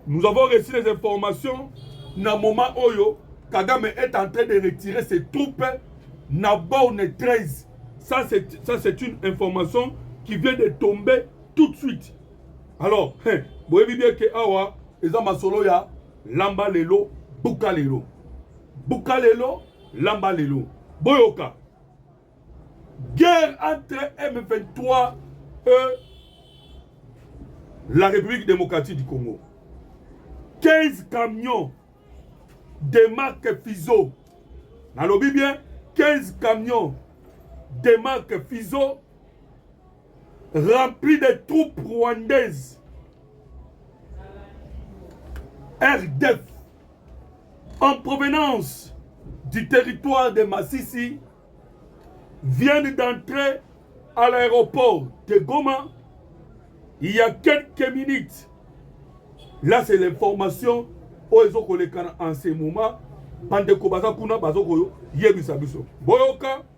Nous avons reçu les informations na moment oyo Kagame est en train de retirer ses troupes na borne 13. Ça c'est ça c'est une information qui vient de tomber tout de suite. Alors, hein, boyebi bien que awa eza masolo ya lamba lelo buka lelo. Buka lelo lamba lelo. Boyoka. Guerre entre M23 et la République démocratique du Congo. 15 camions de marque Fizo. Nalobi bien 15 camions de marque Fizo rempli de troupes rwandaises RDF en provenance du territoire de Massissi viennent d'entrer à l'aéroport de Goma il y a quelques minutes. Là, c'est l'information oyo ezokolekana en ce moment bandeko baza kuna bazokoyebisa biso boyoka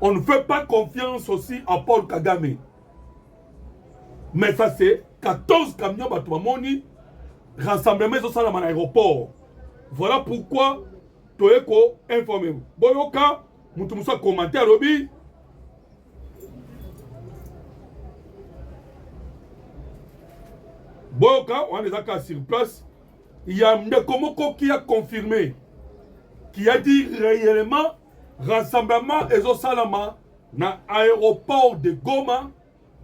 On ne fait pas confiance aussi à Paul Kagame. Mais ça c'est 14 camions bato bamoni rassemblement ezosalama na aéroport. Voilà pourquoi toye ko informe boyoka moto mosusu akomante alobi boyoka wana eza kaka sur place ya ndeko moko ki a confirme qui a dit réellement Rassemblement ezosalama na aéroport de Goma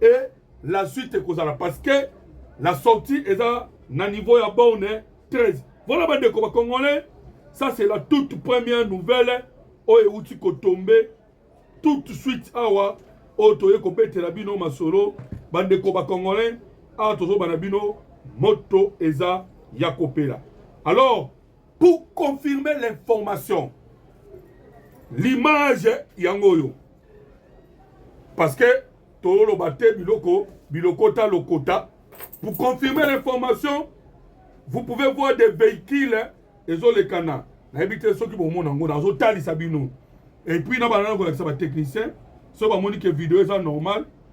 et la suite ekozala parce que la sortie eza na niveau ya borne 13. Voilà bandeko ba congolais, ça c'est la toute première nouvelle oyo euti kotombe tout de suite awa oyo toye kobetela bino masolo bandeko ba congolais awa tozobana bino moto eza ya kopela alors Pour confirmer l'information, l'image yango oyo parce que toloba te biloko bilokota lokota. Pour confirmer l'information, vous pouvez voir des véhicules ezoleka na nayebi te soki bomona yango nazotalisa bino et puis na bana nakolakisa batechnicien soki bamoni ke video eza normal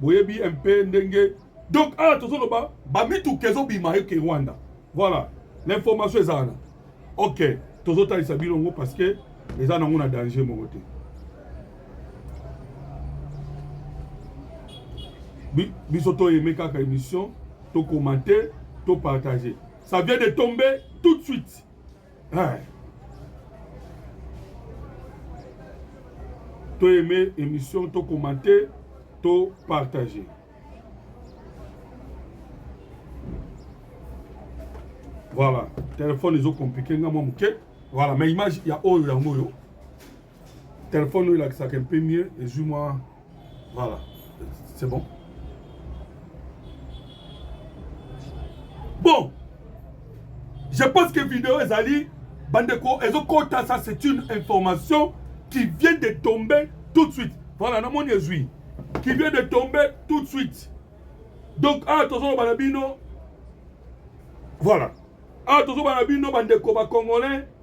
boyebi un peu ndenge donc awa tozoloba bamituka ezobima eke rwanda voilà l'information eza wana ok tozotalisa bino yango parce que eza nango na danger moko te biso toyeme kaka émission tokomante topartage ça vient de tomber tout de suite Hey. To aimer émission, to commenter, to partager. Voilà, téléphone ezo compliqué nga mwa moke. Voilà, mais image ya oyo yango oyo. Telephone oyo elakisaka un peu mieux ezwi mwa voilà c'est bon bon je pense que video ezali bandeko ezokota ça c'est une information qui vient de tomber tout de suite voilà namoni ezwi qui vient de tomber tout de suite donc awa ah, tozoloba na bino voilà awa ah, tozoloba na bino bandeko bacongolais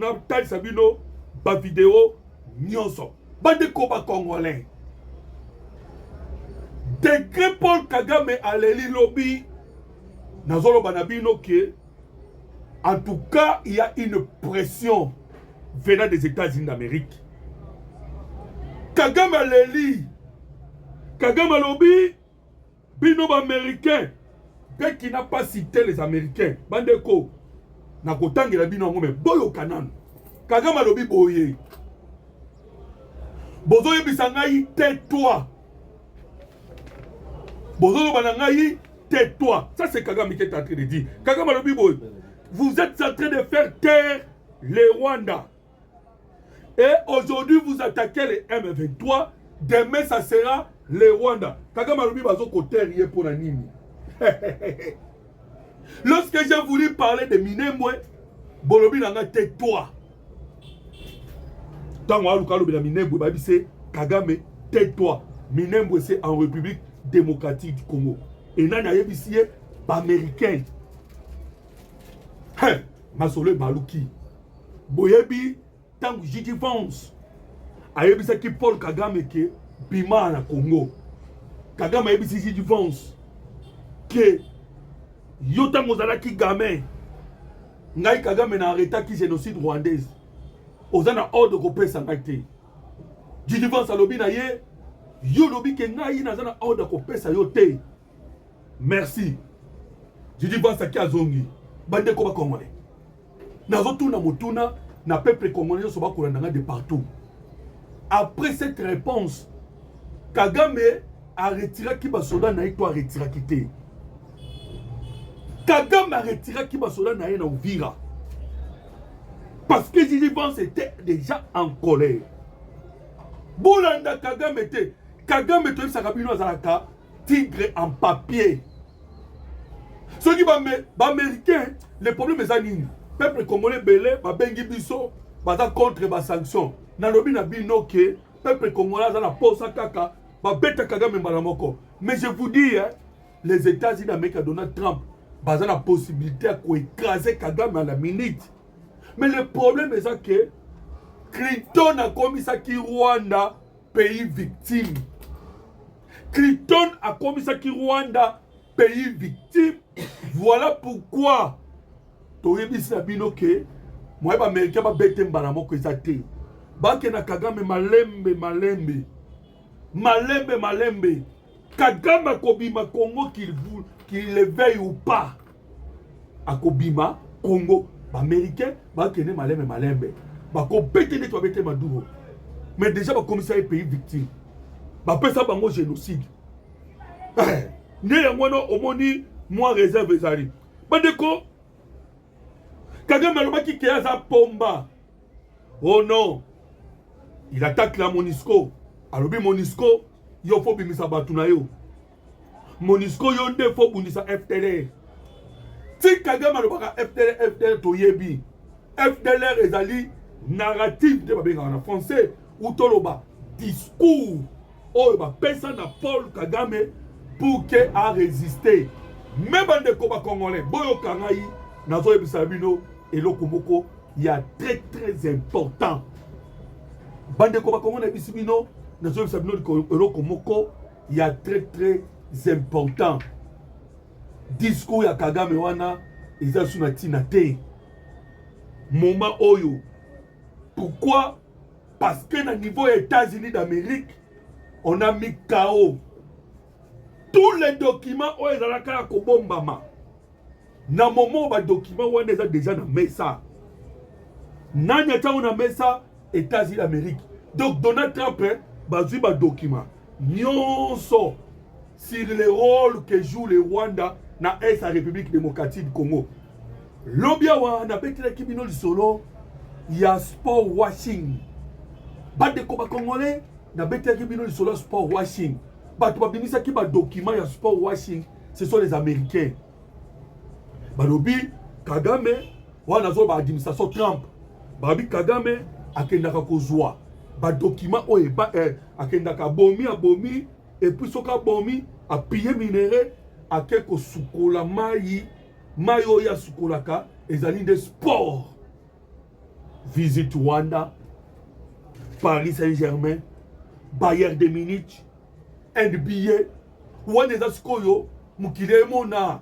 natalisa bino bavideo nyonso bandeko bacongolais degre paul kagame aleli lobi nazoloba na bino ke en tout cas il y a une pression venant des états-unis d'amérique kagame aleli kagame alobi Bino ba americain pe kina pasi te les americains bande ko na kotangela bino yango me boyoka nanu kagame alobi boye bozoyebisa ngai te toi bozoloba na ngai te toi ça c'est kagame qui est en train de dire kagame alobi boye vous êtes en train de faire taire le rwanda Et aujourd'hui, vous attaquez les M23. Demain, ça sera les Rwanda. Kagame alobi bazo koterie pour la nini. Lorsque j'ai voulu parler de Minembwe, bolobi nanga tais-toi. Tango aluka lobi na Minembwe babi c'est Kagame tais-toi. Minembwe c'est en République démocratique du Congo. Et nani ayebisi ye ba américains. Hein, masolo baluki. boyebi ntango jiji vance ayebisaki paul kagame ke bima na congo kagame ayebisi jiji vance ke yo ntango ozalaki game ngai kagame na arretaki génocide rwandaise oza na ordre kopesa ngai te jiji vance alobi na ye yo olobi ke ngai naza na ordre kopesa yo te merci jiji vance aki azongi bandeko bakongole nazotuna motuna na peuple congolais nyonso bakolanda nga de partout après cette réponse kagame aretiraki basoda na ye to aretiraki te kagame aretiraki basoda na ye na uvira parce que jiji vance était déjà en colère bolanda kagame te kagame toyebisaka bino azalaka tigre en papier soki baaméricain le problème eza nini peuple congolais ebele babengi biso baza contre basanction nalobi na bino ke peuple congolais aza na posa kaka babeta kagame mbala moko mais je vous dis hein, les états-unis d'amérique ya donald trump baza na possibilité ya koekrase kagame à la minute mais le problème eza ke clinton akomisaki rwanda pays victime cliton akomisaki rwanda pays victime voilà pourquoi toyebisi na bino ke moye baaméricain babete mbala moko eza te bakenda kagame malembe malembe malembe malembe Kagame akobima Congo qu'il qu'il le veuille ou pas. Akobima Congo. Ba Américains bakende malembe malembe. Bakobete neti babete Maduro. Mais déjà bakomisa ye pays victime. Bapesa bango génocide. Eh, nde yango wana omoni mwa réserve ezali. Bandeko Kagame alobaki ke aza pomba. Oh non, il attaque la Monisco. Alobi Monisco, yo faut bimisa batu na yo. Monisco yo nde faut bundisa FTLR. Ti Kagame alobaka FTLR, FTLR toyebi. FTLR ezali narrative nde babengaka na français ou toloba discours oyo bapesa na Paul Kagame pour que a resiste me bandeko ba congolais boyoka ngai nazoyebisa bino eloko moko ya très très important bandeko ba congolais nayebisi bino nazoyebisa bino eloko moko ya très très important discours ya Kagame wana eza su na ntina te moment oyo pourquoi Parce que na niveau ya États-Unis d'Amérique, on a mis KO. Tous les documents oyo ezalaka ya kobombama na moment ba documents wana eza déjà na mesa. Nani atango na mesa États-Unis d'Amérique. Donc Donald Trump eh, bazwi ba documents nyonso sur le rôle que joue le Rwanda na est ya République démocratique du Congo. Lobi awa nabetelaki bino lisolo ya sport washing. Bandeko ba Congolais nabetelaki bino lisolo ya sport washing. Bato babimisaki ba document ya sport washing, ce sont les Américains. Balobi Kagame wana zo ba administration Trump. Babi Kagame akendaka kozwa ba document oyo eh, akendaka bomi abomi epuis soki abomi apiye minere ake kosukola mayi mayi oyo asukolaka ezali nde sport visit rwanda paris saint germain bayer de munich nba wana eza sikoyo mokili emona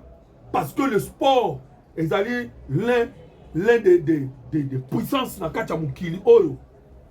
parce que le sport ezali l'un l'un des de, de, de puissance na kati ya mokili oyo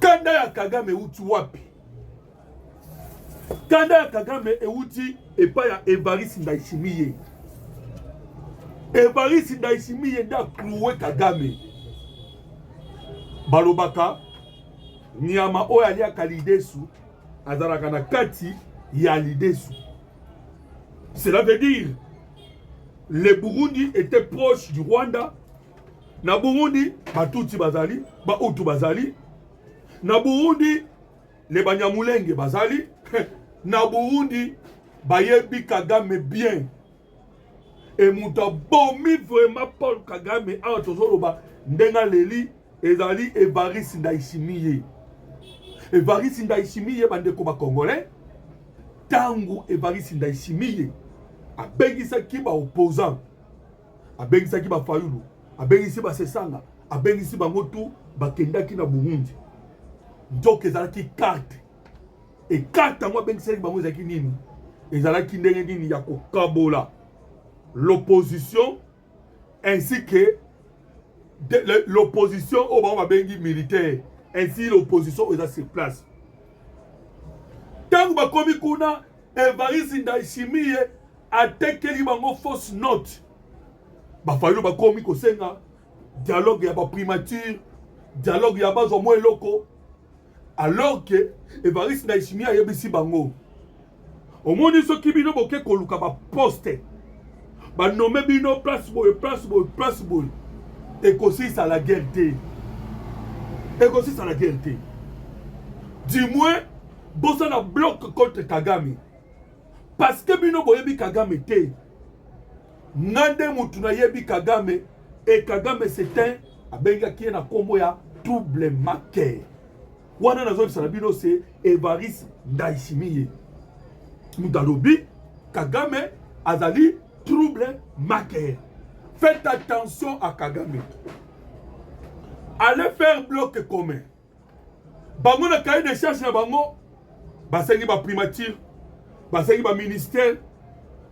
Kanda ya Kagame euti wapi? Kanda ya Kagame euti epai ya Evariste Ndayishimiye. Evariste Ndayishimiye nde aklouwe Kagame. Balobaka nyama oyo aliaka lidesu azalaka na kati ya lidesu. Cela veut dire le Burundi était proche du Rwanda Na Burundi, Batutsi bazali, Bautu bazali. Na Burundi, le Banyamulenge bazali. Na Burundi, bayebi Kagame bien. E moto abomi vraiment Paul Kagame awa tozoloba ndenge aleli ezali Evariste Ndayishimiye. Evariste Ndayishimiye bandeko ba Congolais, tango Evariste Ndayishimiye abengisaki ba opposants abengisaki ba Fayulu, abengisi ba Sesanga, abengisi bango tu bakendaki na Burundi. Nzoka ezalaki carte e carte yango abengisaki bango ezalaki nini? Ezalaki ndenge nini ya kokabola l'opposition ainsi que l'opposition oyo bango babengi militaire ainsi l'opposition eza sur place ntango bakomi kuna evariste ndayishimiye atekeli bango fausse note bafayulu bakomi kosenga dialogue ya baprimature dialogue ya bazwa mwa eloko alors ke evariste ndayishimiye ayebisi bango omoni soki bino boke koluka baposte banome bino place boye place boye place boye ekosisa la guerre te ekosisa la guerre te du moins bosala bloc contre kagame parce que bino boyebi kagame te nga nde mutu nayebi kagame e kagame c'est un abengaki ye na nkombo ya double maker wana nazoyebisa na bino se evaris ndaishimiye mutu alobi kagame azali trouble maker faites attention à kagame allez faire bloc commun bango na cahier de charge na bango basengi ba primature basengi ba ministère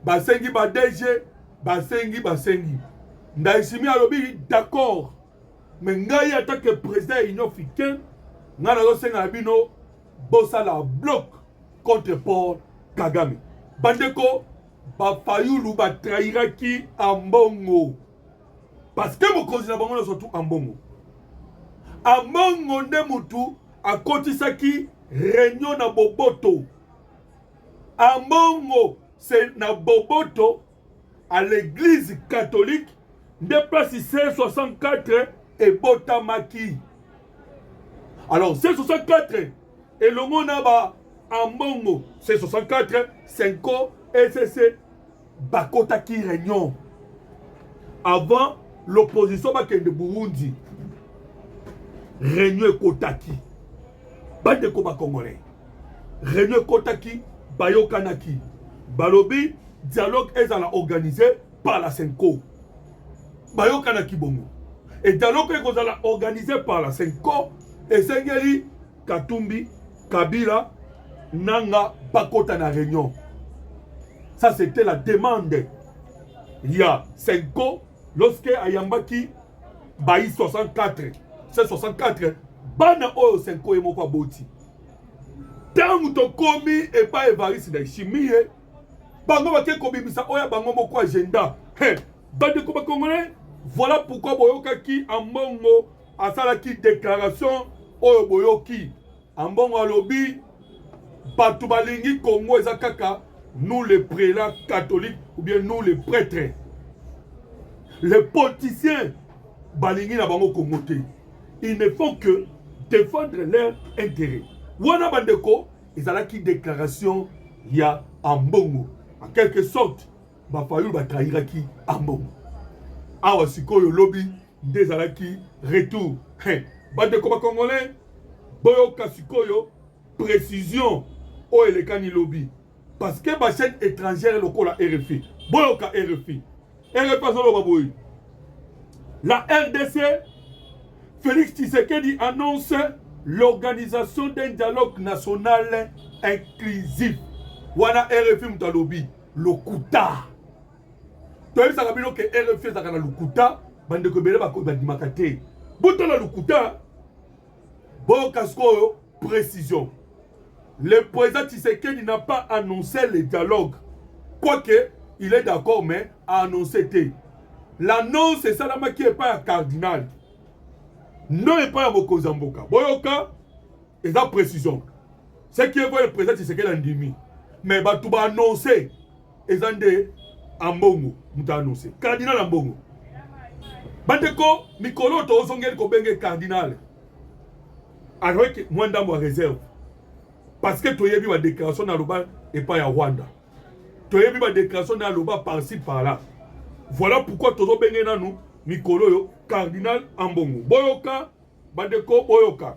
basengi ba DG basengi basengi Ndayishimiye alobi d'accord me ngai ata ke président ya union africaine ngai nazosenga na bino bosala bloc contre paul kagame bandeko bafayulu batrahiraki ambongo parce que mokonzi na bango nyonso tu ambongo ambongo nde motu akotisaki reunion na boboto ambongo se na boboto à l'église catholique nde place 1664 ebotamaki alors 1664 elongo na ba ambongo 1664 senko ecc bakotaki reunion avant l'opposition bakende burundi reunion ekotaki bandeko bacongolais reunion ekotaki bayokanaki balobi dialogue ezala organise par la senco bayokanaki bongo e dialogue ekozala organise par la senco esengeli Katumbi, Kabila, Nanga, Bakota na réunion. Ça, c'était la demande. Il y a Senko, lorsque Ayambaki, Baï 64, c'est 64, Bana Oyo Senko et Mokwa Boti. Tango to komi et pas Evariste na Chimie, bango bake kobimisa oya bango moko agenda. Hey, bande ko bakongolais, voilà pourquoi boyokaki ambongo asalaki declaration oyo boyoki ambongo alobi bato balingi congo eza kaka nous les prélats catholiques ou bien nous les prêtres les politiciens balingi na bango congo te ils ne font que défendre leur intérêt wana bandeko ezalaki déclaration ya ambongo en quelque sorte Ba Fayulu ba trahiraki Ambongo. Awa sikoyo lobi nde ezalaki retour. Hey, bandeko ba Congolais boyoka sikoyo précision oyo elekani lobi parce que ba chaîne étrangère lokola RFI boyoka RFI RFI azoloba boye la RDC Félix Tshisekedi annonce l'organisation d'un dialogue national inclusif wana RFI moto alobi lokuta toyebisaka bino ke rfi ezalaka na lokuta bandeko ebele bandimaka te botala lokuta boyoka sikoyo précision le président tshisekedi n'a pas annoncé le dialogue quoique il est d'accord mais a annoncé te l'annonce esalamaki epai ya cardinal non epai ya mokonzi ya mboka boyoka eza précision ce qui est vrai le président Tshisekedi andimi mais bato ba annonce eza nde ambongo moto annonce cardinal ambongo bandeko mikolo oyo tozongeli kobenge cardinal azalaki mwa ndambo ya réserve parce que toyebi badéclaration na loba epai ya rwanda toyebi badéclaration na loba parci parla voilà pourquoi tozobenge nanu mikolo oyo cardinal ambongo boyoka bandeko boyoka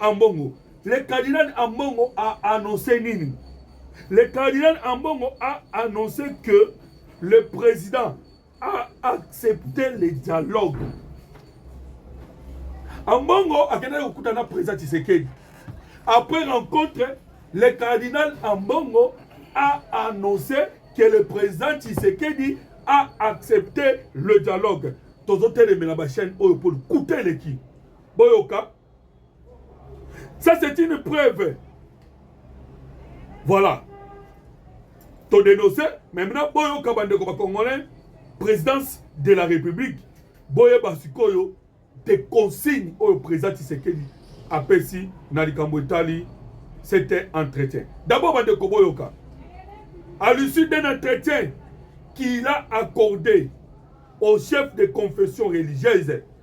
Ambongo. Le cardinal Ambongo a annoncé nini? Le cardinal Ambongo a annoncé que le président a accepté le dialogue. Ambongo akendaki kokuta na président Tshisekedi. Après rencontre, le cardinal Ambongo a annoncé que le président Tshisekedi a accepté le dialogue. Tozo telemela ba chaîne oyo pour kuta eleki. Boyoka Ça, c'est une preuve. Voilà. To dénoncé, mais maintenant, boyo kabande ko congolais, présidence de la République, boye basikoyo, des consignes au président Tshisekedi apesi na likambo etali c'était entretien. D'abord, bande ko boyoka. À l'issue d'un entretien qu'il a accordé au chef de confession religieuse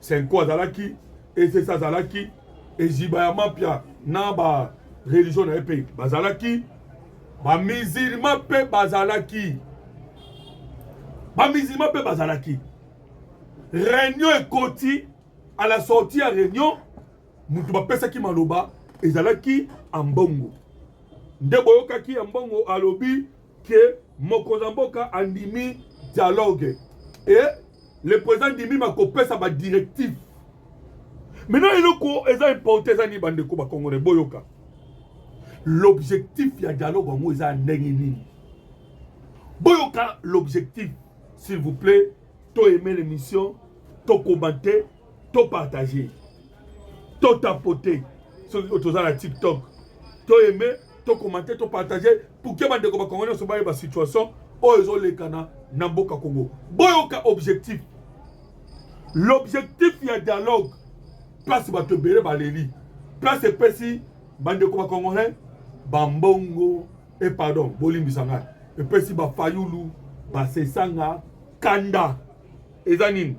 Senko azalaki, ECC azalaki, Eziba ya Mapia na ba religion na ye mpe bazalaki, ba musulman mpe bazalaki, ba musulman mpe bazalaki. Reunion ekoti, à la sortie ya reunion, moto bapesaki maloba ezalaki Ambongo, nde boyokaki Ambongo alobi que mokonzi ya mboka andimi dialogue et le président andimi makopesa ba directive maintenant eloko eza importe eza nini bandeko bakongole boyoka l'objectif ya dialogue yango eza ndenge nini boyoka l'objectif s'il vous plaît to aime l'émission to commente to partage to tapote soki toza na tiktok to aime to commenter to partager pour que bandeko ba congolais so bayeba situation oyo ezolekana na mboka congo boyoka objectif l'objectif ya dialogue place bato ebele baleli place epesi bandeko ba congolais bambongo e eh, pardon bolimbisa ngai epesi bafayulu basesanga kanda eza nini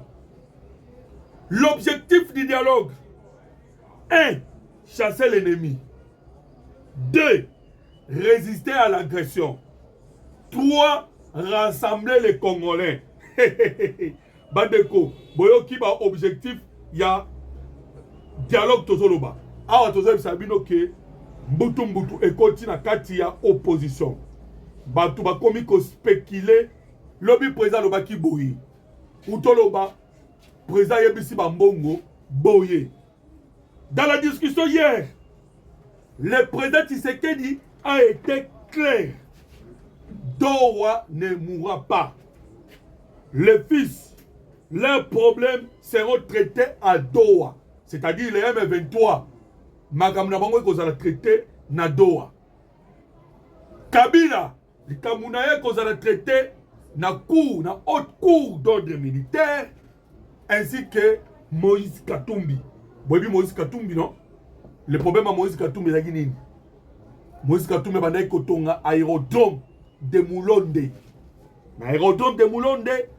l'objectif du dialogue 1. Chasser l'ennemi. 2. Résister à l'agression. 3. Rassembler les Congolais. bandeko boyoki ba objectif ya dialogue tozoloba awa tozoyebisa bino ke mbutu mbutu ekoti na kati ya opposition bato bakomi kospekile lobi président alobaki boye utoloba Président yebisi ba mbongo boye. Dans la discussion hier, le président Tshisekedi a été clair. Dowa ne mourra pas. Les fils, leurs problèmes seront traités à Doha, c'est-à-dire les M23. Makambo na bango ekozala traité na Doha. Kabila likambo na ye kozala traite na cour na haute cour d'ordre militaire ainsi que moïse katumbi boyebi moïse katumbi non le problème ya moïse katumbi ezalaki nini moïse katumbi abandaki kotonga aérodrome de mulonde na aérodrome de mulonde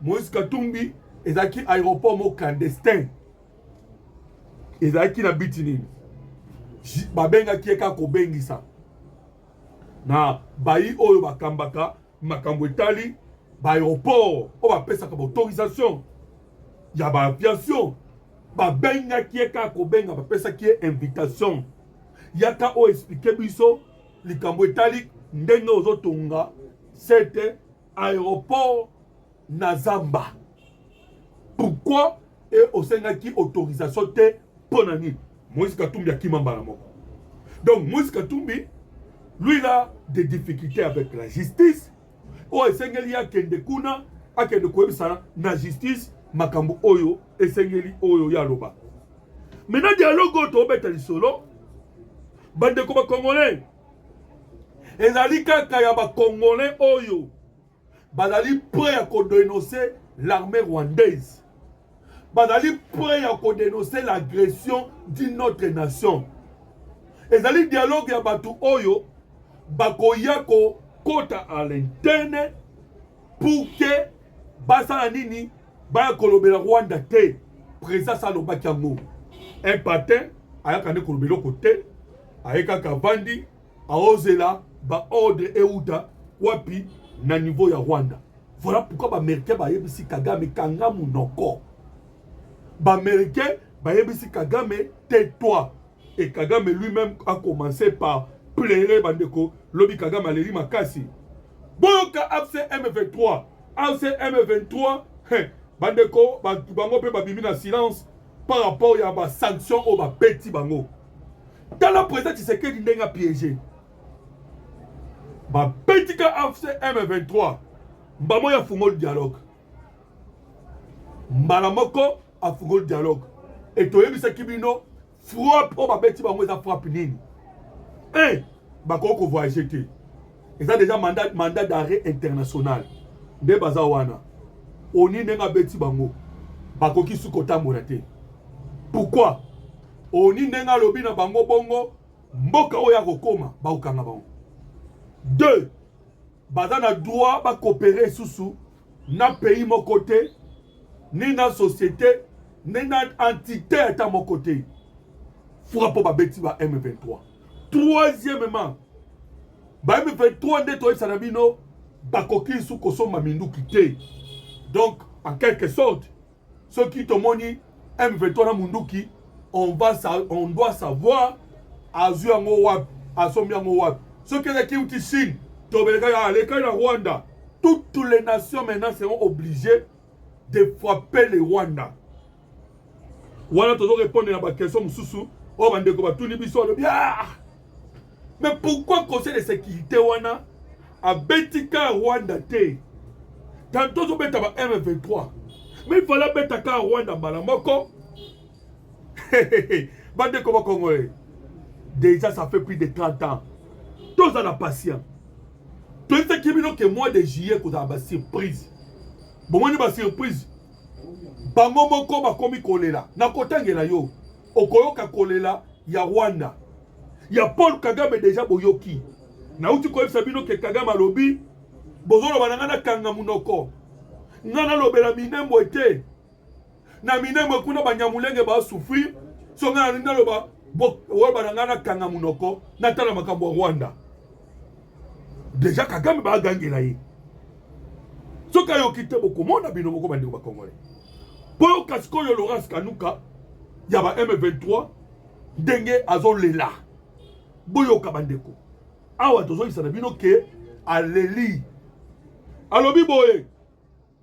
moïse katumbi ezalaki aéroport moko clandestin ezalaki na biti nini babengaki ye kaka kobengisa na bayi oyo bakambaka makambo etali ba aeroport oyo bapesaka baautorisation ya ba aviation babengaki ye kaka kobenga bapesaki ye invitation yaka oyo explike biso likambo etali ndenge ozotonga sete aeroport na zamba pourquoi e osengaki autorisation te mpo na nini moïse katumbi akima mbala moko donc moïse katumbi lui la des difficultés avec la justice oyo esengeli akende kuna akende koyebisana na justice makambo oyo esengeli oyo ye aloba maintenant dialogue oyo tobeta lisolo bandeko bacongolais ezali kaka ya bacongolais oyo bazali prêt ya kodenoncer l'armée rwandaise bazali prêt ya kodenoncer l'agression d'une autre nation ezali dialogue ya bato oyo bakoya kokota à l'interne pour que basala nini baya kolobela rwanda te président sa alobaki yango un patin ayaka nde koloba eloko te aye kaka avandi aozela baordre euta wapi na niveau ya rwanda voilà pourquoi baaméricain bayebisi kagame kanga monoko baaméricain bayebisi kagame te toi et kagame lui-même a commencé par plere bandeko lobi kagame aleli makasi boyoka afc m23 ACM 23 he bandeko bato bango mpe babimi na silence par rapport ya ba sanctions oyo babeti bango tala président tshisekedi ndenge apiége babetika afcm 23 mbala moko afungoli dialogue mbala moko afungoli dialogue etoyebisaki bino frappe oyo babeti bango eza frappe nini e bakoki kovoyage te eza deja mandat, mandat d'arrêt international nde baza wana oni ndenge abeti bango bakoki su kotambola te pourkui oni ndenge alobi na bango bongo mboka oyo akokoma bakokanga bango deux baza na droit ba coopérer lisusu na pays moko te ni na société ni na entité ata moko te fura mpo babeti ba M23 troisièmement ba M23 nde toyebisa na bino bakoki lisusu kosomba minduki te donc en quelque sorte soki tomoni M23 na munduki on va on doit savoir azwi yango wapi asombi yango wapi soki ezaki uti Chine tobeleka ya aleka na Rwanda toutes les nations maintenant seront obligées de frapper le Rwanda wana tozo répondre na ba question mosusu oyo bandeko batuni biso alobi ah Mais pourquoi conseil de sécurité wana abeti ka Rwanda te tanto ozobeta ba M23 mais il fallait abeta ka Rwanda mbala moko bandeko bakongole déjà ça fait plus de 30 ans toza na patient toyebisaki bino ke mois de juillet kozala basurprise bomoni basurprise bango moko bakomi kolela nakotangela yo okoyoka kolela ya Rwanda ya Paul Kagame deja boyoki nauti koyebisa bino ke Kagame alobi bozoloba na ngai nakanga monoko ngai nalobela minembwe te na minembwe kuna banyamulenge basufrir so ngai nalingi naloba oloba na ngai nakanga monoko natala makambo ya Rwanda deja kagame bagangela ye soki ayoki te bokomona bino moko bandeko bakongole mpo yoka sikoyo laurence kanuka ya ba m23 ndenge azolela boyoka bandeko awa tozoyisa na bino ke aleli alobi boye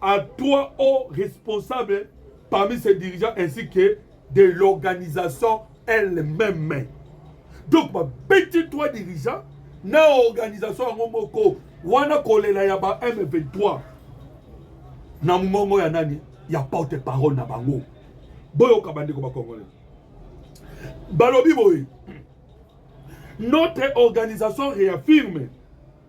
à trois hauts responsables parmi ses dirigeants ainsi que de l'organisation elle-même. Donc, bah, petit trois dirigeants, na organisation yango moko wana kolela ya ba M23 na mongongo ya nani ya porte parole na bango boyoka bandeko bakongolais balobi boye notre organisation réaffirme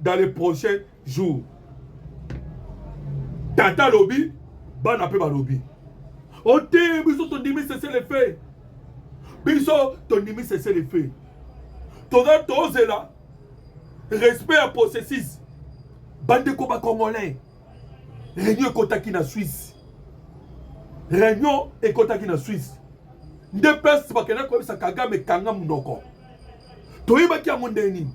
dans les prochains jours tata alobi bana mpe balobi ote oh, biso tondimi sese le fait biso tondimi sese le fait toza tozela respect ya processus bandeko bacongolais réunion ekotaki na swisse réunion ekotaki na swisse nde place bakenda koyebisa kagame kanga monoko toyebaki yango ndenge nini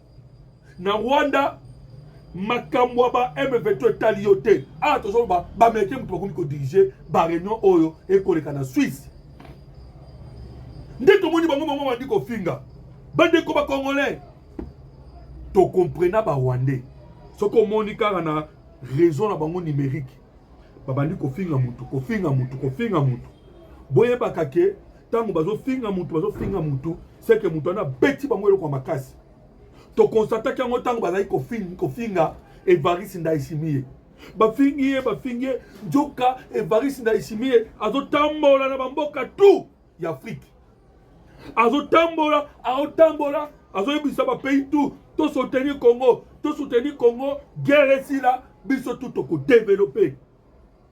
na Rwanda makambo ya ba M23 etali yo te awa tozoloba baamerikain moto bakomi kodirige bareunion oyo ekoleka na swisse nde tomoni bango bango bandi kofinga bandeko bacongolais tocomprena barwandais soki omoni kaka na réseau na bango numérique babandi kofinga motu kofinga motu kofinga motu boyebaka ke ntango bazofinga motu bazofinga motu seke motu wana abeti bango eloko ya makasi tokonstataki yango ntango bazali kofinga evariste ndaisimie bafingi ye bafingi ye nzoka evariste ndaisimie azotambola na bamboka tu ya afrike azotambola aotambola azoyebisa bapays tu tosoutenir congo tosoutenir congo guerre esila biso tu tokodevelope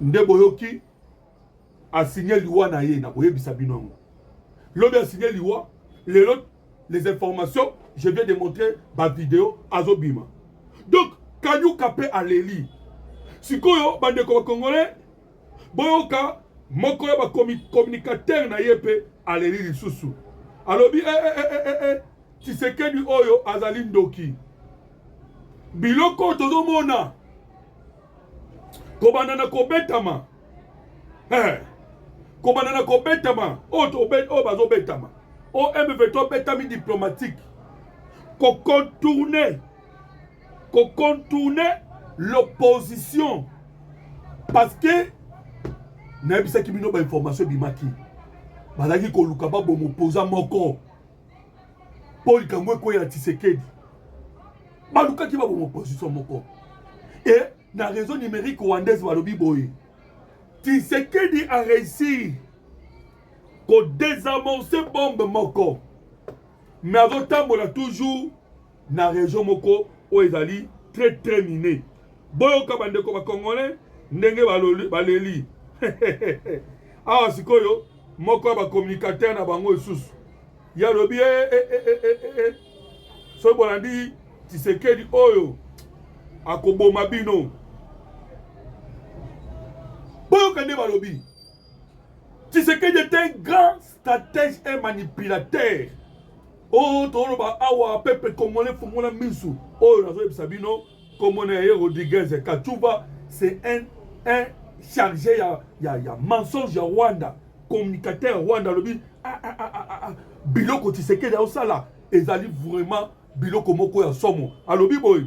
nde boyoki asigne liwa na ye na koyebisa bino yango lobi asigne liwa lelo les informations je viens de montrer bavideo azobima donc kanyuka mpe aleli sikoyo bandeko bakongole boyoka moko ya bacommunicateur na ye mpe aleli lisusu alobi eh, eh, eh, eh, eh. Tshisekedi oyo azali ndoki. Biloko oyo tozomona kobanda na kobetama eh, kobanda na kobetama oyo oyo bazobetama o M23 obetami diplomatique kocontourne kocontourne l'opposition parce que nayebisaki bino bainformation ebimaki bazalaki koluka babomo poza moko mpo likambo ekweya na tisekedi balukaki baboma opposition moko e na réseau numérique rwandaise balobi boye tisekedi a réussir kodesamorce bombe moko me azotambola toujours na region moko oyo ezali très très mine boyoka bandeko ba congolais ndenge baleli awa sikoyo moko ya bacommunicateur na bango lisusu ye alobi eh, eh, eh, soki bolandi tisekedi oyo akoboma bino boyoka nde balobi tisekedi est un grand stratège et manipulateur oyo oh, toloba awa pepe congolais fongola misu oyo nazoyebisa bino kombo na ye rodriguez kachuba c'est un, un chargé ya, ya, ya mensonge ya rwanda communicateur ya rwanda alobi ah, ah, ah, ah, ah, ah. biloko tisekeli aosala ezali vraiment biloko moko ya somo alobi boye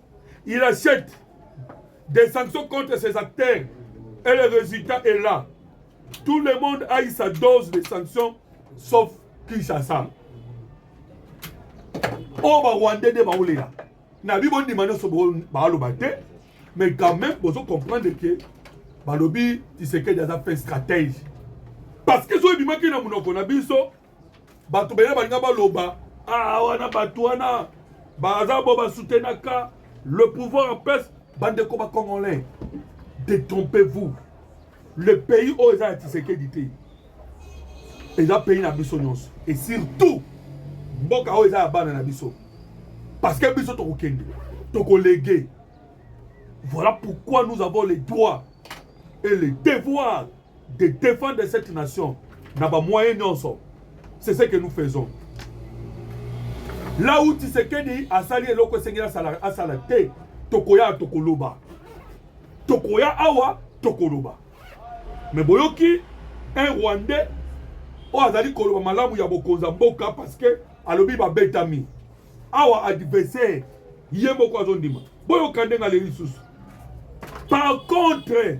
Il achète des sanctions contre ses acteurs et le résultat est là. Tout le monde a eu sa dose de sanctions sauf Kinshasa. Oh, bah, Rwandais de Baoulera. Nabi bon dimano so baaloba te, mais quand même, vous comprenez que balobi Tshisekedi aza fait stratège. Parce que so ebimaki na munoko na biso, bato bele balinga baloba ah wana bato wana baza bo basoutenaka le pouvoir en place bandeko ba congolais détrompez vous le pays oyo eza ya tisekedi te eza pays na biso nyonso et surtout mboka oyo eza ya bana na biso parce que biso tokokende tokolege voilà pourquoi nous avons les droits et les devoirs de defendre cette nation na ba moyen nyonso c'est ce que nous faisons là où Tshisekedi asali eloko esengeli asala asala te tokoya tokoloba tokoya awa tokoloba mais boyoki un rwandais oyo azali koloba malamu ya bokonzi ya mboka parce que alobi babetami awa adversaire ye moko azondima boyoka ndenge aleli lisusu par contre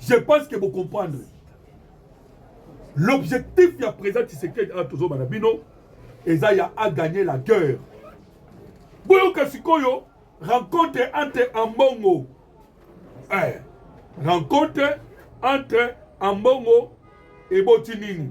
Je pense que vous comprenez. L'objectif ya président Tshisekedi a toujours banabino eza ya a gagner la guerre. Boyoka sikoyo rencontre entre Ambongo eh, rencontre entre Ambongo et Botinini.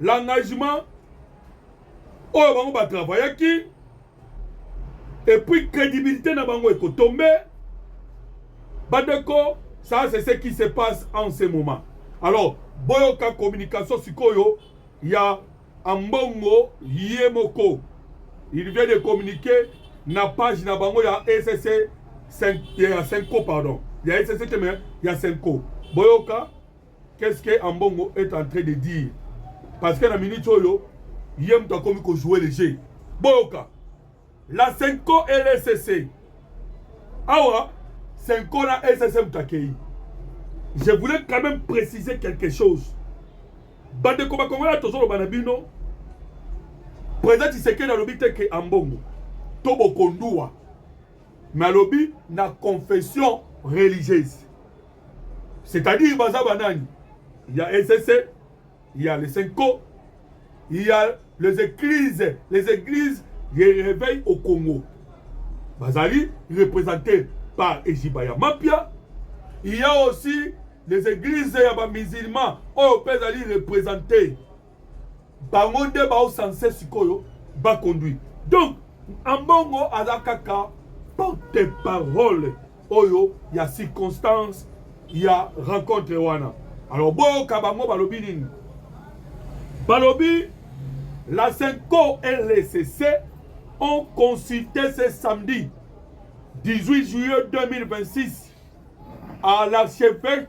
l'engagement oyo bango ba travaillaki et puis crédibilité na bango ekotombe bandeko ça c'est ce qui se passe en ce moment alors boyoka communication sikoyo ya ambongo ye moko il vient de communiquer na page na bango ya ecc ya senco pardon ya ecc te mais ya senco boyoka Qu'est-ce que Ambongo est en train de dire? Parce que na minute oyo ye moto akomi ko jouer le jeu. Boyoka la Senko et le SSC. Awa Senko na SSC moto akei. Je voulais quand même préciser quelque chose. Bandeko bakongolais tozoloba na bino président Tshisekedi alobi te ke Ambongo to bokondua mais alobi na confession religieuse C'est-à-dire baza banani Il y a ECC, il y a les Senko, il y a les églises, les églises les réveil au Congo. Bazali représenté par Ejibaya Mapia. Il y a aussi les églises ya ba musulmans oyo mpe ezali représenté bango nde bao sense sikoyo ba conduire donc ambongo aza kaka porte parole oyo ya circonstance ya rencontre wana alors boyoka bango balobi nini balobi la senco et l'ECC ont consulté ce samedi 18 juillet 2026 à l'archevêque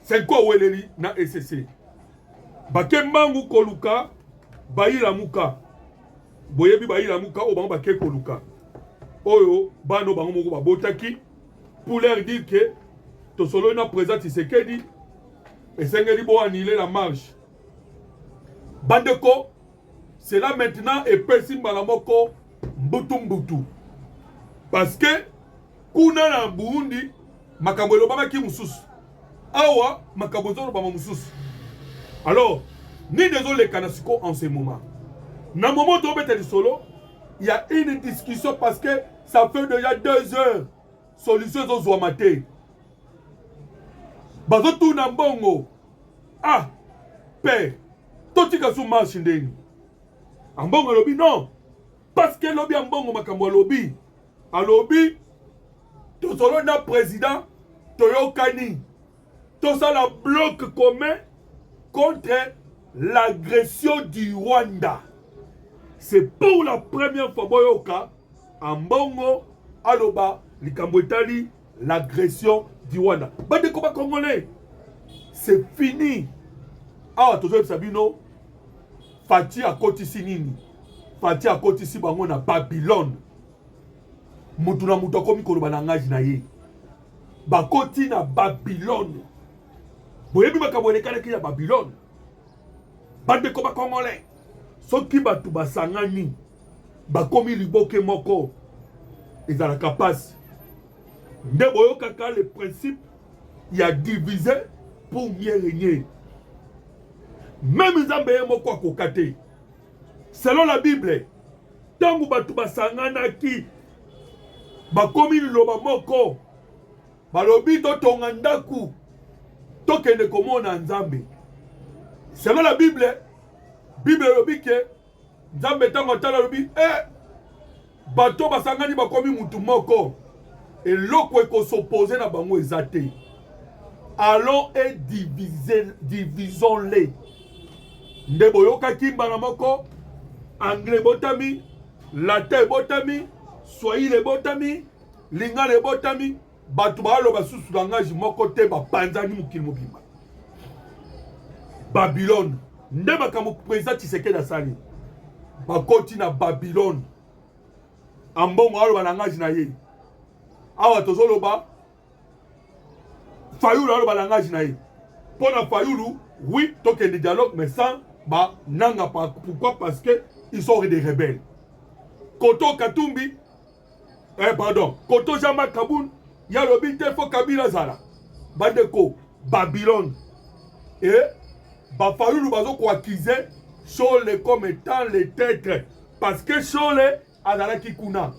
Senko aweleli na ECC bake mbangu koluka bayilamuka boyebi bayilamuka oyo bango bake koluka oyo bana bango moko babotaki pour leur dire que tosololi na président Tshisekedi esengeli bo annuler la marche bandeko cela maintenant epesi mbala moko mbutu mbutu parce que kuna na Burundi Makambo elobamaki mosusu awa, makambo ezolobama mosusu. Alors nini ezolekana siko en ce moment? Na moment tobeta lisolo ya une discussion parce que ça fait déjà deux heures solution ezozwama te, bazotuna mbongo ah pe totika su marche ndeni ambongo alobi non Parce que lobi ambongo makambo alobi. Alobi tozolo na président toyokani tosala bloc commun contre l'agression du Rwanda. C'est pour la première fois boyoka ambongo aloba likambo etali l'agression du Rwanda. Bande combat congolais, c'est fini. Awa tozo yebisa bino Fatih akotisi nini? Fatih akotisi bango na Babylone. Mutu na mutu akomi koloba na ngaji na ye. Bakoti na Babylone. Boyebi makambo elekalaki ya Babylone. bandeko bakongole soki bato basangani bakomi liboke moko ezalaka mpasi nde boyokaka le principe ya divise pour mieux régner meme nzambe ye moko akoka te selon la bible ntango bato basanganaki bakomi liloba moko balobi totonga ndako tokende komona nzambe selon la bible bible elobi ke nzambe ntango atala alobi e eh, bato basangani bakomi mutu moko eloko ekosopose na bango eza te allons et divisons les nde boyokaki mbala moko anglais ebotami latin ebotami swahili ebotami lingala ebotami bato baaloba susu langage moko te bapanzani mokili mobimba babilone nde makambo président tshisekedi asali bakoti na babilone ambongo aloba langage na ye awa tozoloba fayulu aloba langage na ye mpo na fayulu oui tokende dialogue mais sans bananga pourquoi parce que ils sont des rebelles koto katumbi Eh, pardon, Koto Jean-Marc Kabund, ya lobi te faut Kabila zala. Bandeko, Babylone. Et, Bafayulu bazo ko accuser Shole comme étant le tête. Parce que Shole azalaki kuna.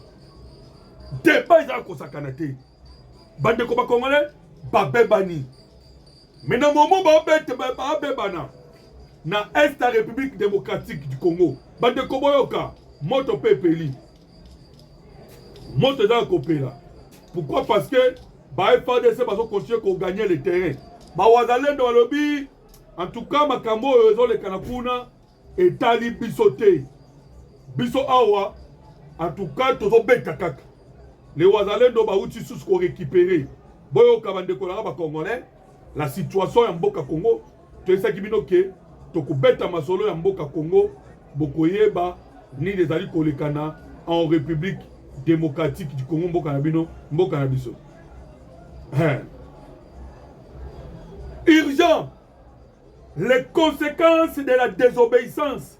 Débat eza kosakana te. Bandeko ba Congolais, babebani. Mais na moment babete babebana. Na Est ya République démocratique du Congo. Bandeko boyoka, moto pe peli. moto eza ya kopela pourquoi parce que ba frdc bazokontinue koganye le terrain bawazalendo balobi en tout cas makambo oyo ezolekana kuna etali biso te biso awa en tout cas tozobeta kaka le wazalendo bauti susu korekipere boyoka bandeko nanga bacongolais la situation ya mboka congo toyesaki bino ke tokobeta masolo ya mboka congo bokoyeba nini ezali kolekana en république démocratique du congo mboka na bino mboka na biso hein. urgent les conséquences de la désobéissance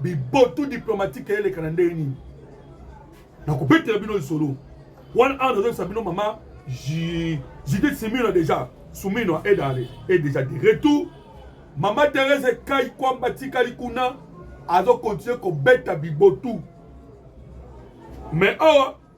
bibotu diplomatique eleka na ndenge nini nakobetela bino lisolo wana awa nazoyebisa bino mama judith simino deja sumino edale e deja de retour mama therese kai kwamba atikali kuna azokontinue kobeta bibotu mais awa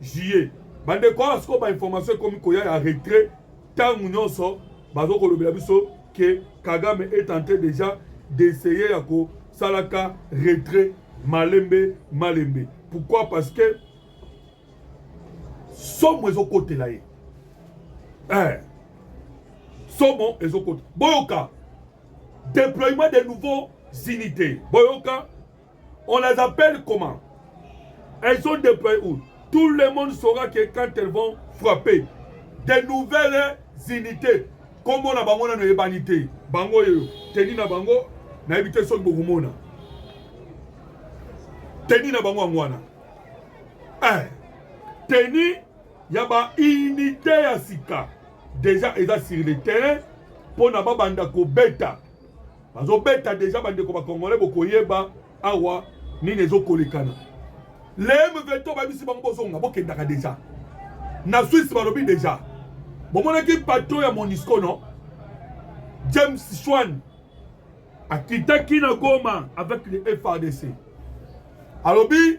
juillet bandeko awa sikoyo bainformation ekomi koya ya retrait ntango nyonso bazokolobela biso ke kagame est en train déjà d'essayer ya kosalaka retrait malembe malembe pourquoi parce que somo ezokotela ye eh. somo ezokota boyoka déploiement de nouveaux unités boyoka On les appelle comment Elles sont déployées où Tout le monde saura que quand elles vont frapper, des nouvelles unités, comme on a bango na noyebani te, bango yo, teni na bango, na ebite soki bokumona. Teni na bango angwana. Eh, teni ya ba unité ya sika déjà eza sur le terrain mpo na babanda kobeta bazobeta deja bandeko bakongole bokoyeba awa nini ezokolekana leme veto babisi bango bozonga bokendaka deja na swisse balobi deja bomonaki patron ya monisco no james shwan akitaki na goma avec le frdc alobi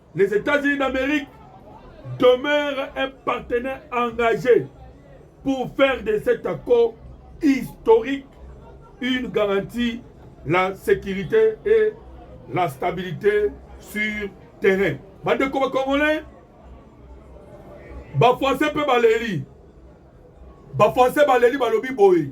Les États-Unis d'Amérique demeurent un partenaire engagé pour faire de cet accord historique une garantie la sécurité et la stabilité sur terrain. Bandeko ba Congolais, ba Français pe baleli. Ba Français baleli balobi boye.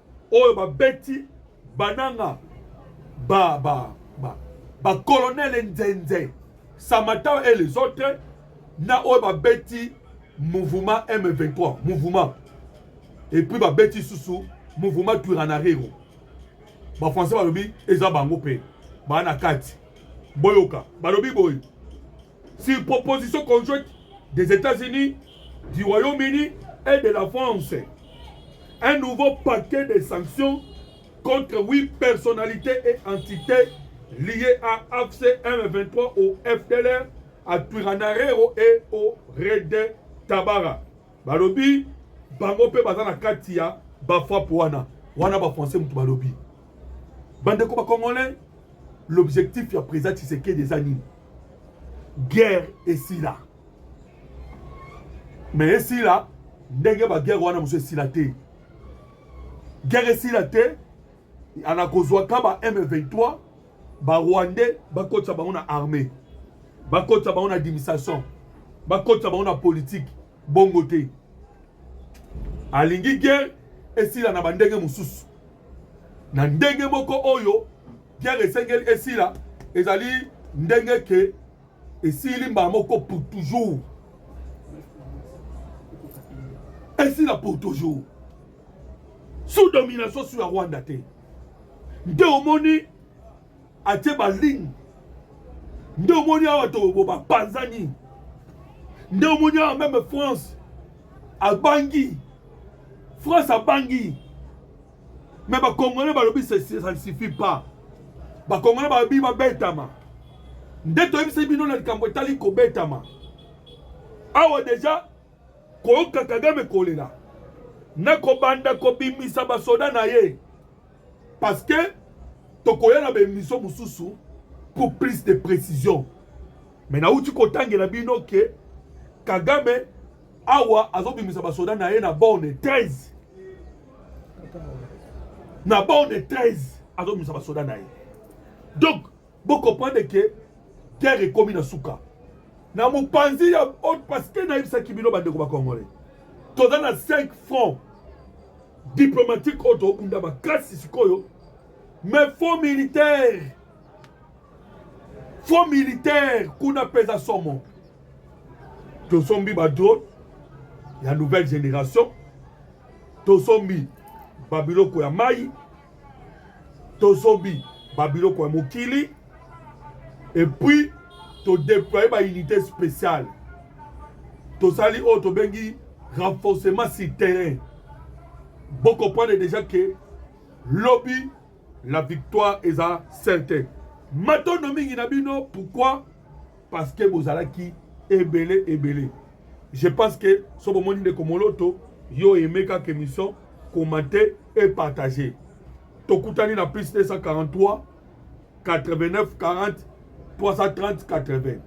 oyo babeti bananga ba ba ba ba colonel nzenze samata et les autres na oyo babeti mouvement M23 mouvement et puis babeti susu mouvement Turanarero ba français balobi eza bango pe bana kati boyoka balobi boye Sur proposition conjointe des Etats-Unis, du Royaume-Uni et de la France, un nouveau paquet de sanctions contre huit personnalités et entités liées à AFC M23 au FDLR, à Turanarero et au Red Tabara. Balobi, bango pe baza na kati ya ba frappe wana. Wana ba français mutu balobi. Bande ko ba congolais, l'objectif ya président Tshisekedi eza nini? guerre esila me esila ndenge baguerre wana mosusu esila te guerre esila te ana kozwaka ba m23 barwandais bakotisa bango na armée bakotisa bango na administration bakotisa bango na politike bongo te alingi guerre esila na bandenge mosusu na ndenge moko oyo Guerre esengeli esila ezali ndenge ke esili mbala moko pour toujours esila pour toujours sous domination sous ya rwanda te nde omoni atie baligne nde omoni awa tobo bapanzani nde omoni awa meme france abangi france abangi Mais ba congolais balobi ça ne suffit pas. Ba congolais balobi babetama. Nde toyebisi bino na likambo etali kobetama. Awa deja koyoka Kagame kolela na kobanda kobimisa basoda na ye parce que tokoya na baemission mosusu pour plus de précision mais nauti kotangela bino ke Kagame awa azobimisa basoda na ye na borne 13 na bord de 13 azobimisa basoda na ye donc bocomprendre ke guerre ekomi na suka na mopanzi ya haute parceke nayebisaki bino bandeko bacongolais toza na 5 franc diplomatique oyo tobunda makasi sikoyo mais faux militaire faux militaire kuna peza somo tosombi ba drone ya nouvelle génération tosombi babiloko ya mai tosombi babiloko ya mokili epuis todeploye baunité spéciale tosali oyo tobengi renforcement sur terrain bokomprendre déjà ke lobi La victoire est à certaine. Matondo mingi na bino pourquoi? Parce que bozalaki ebele ebele. Je pense que so bomoni ndeko Moloto yo aimé kaka émission, commenter et partager. Tokutani na plus 243 89 40 330 80.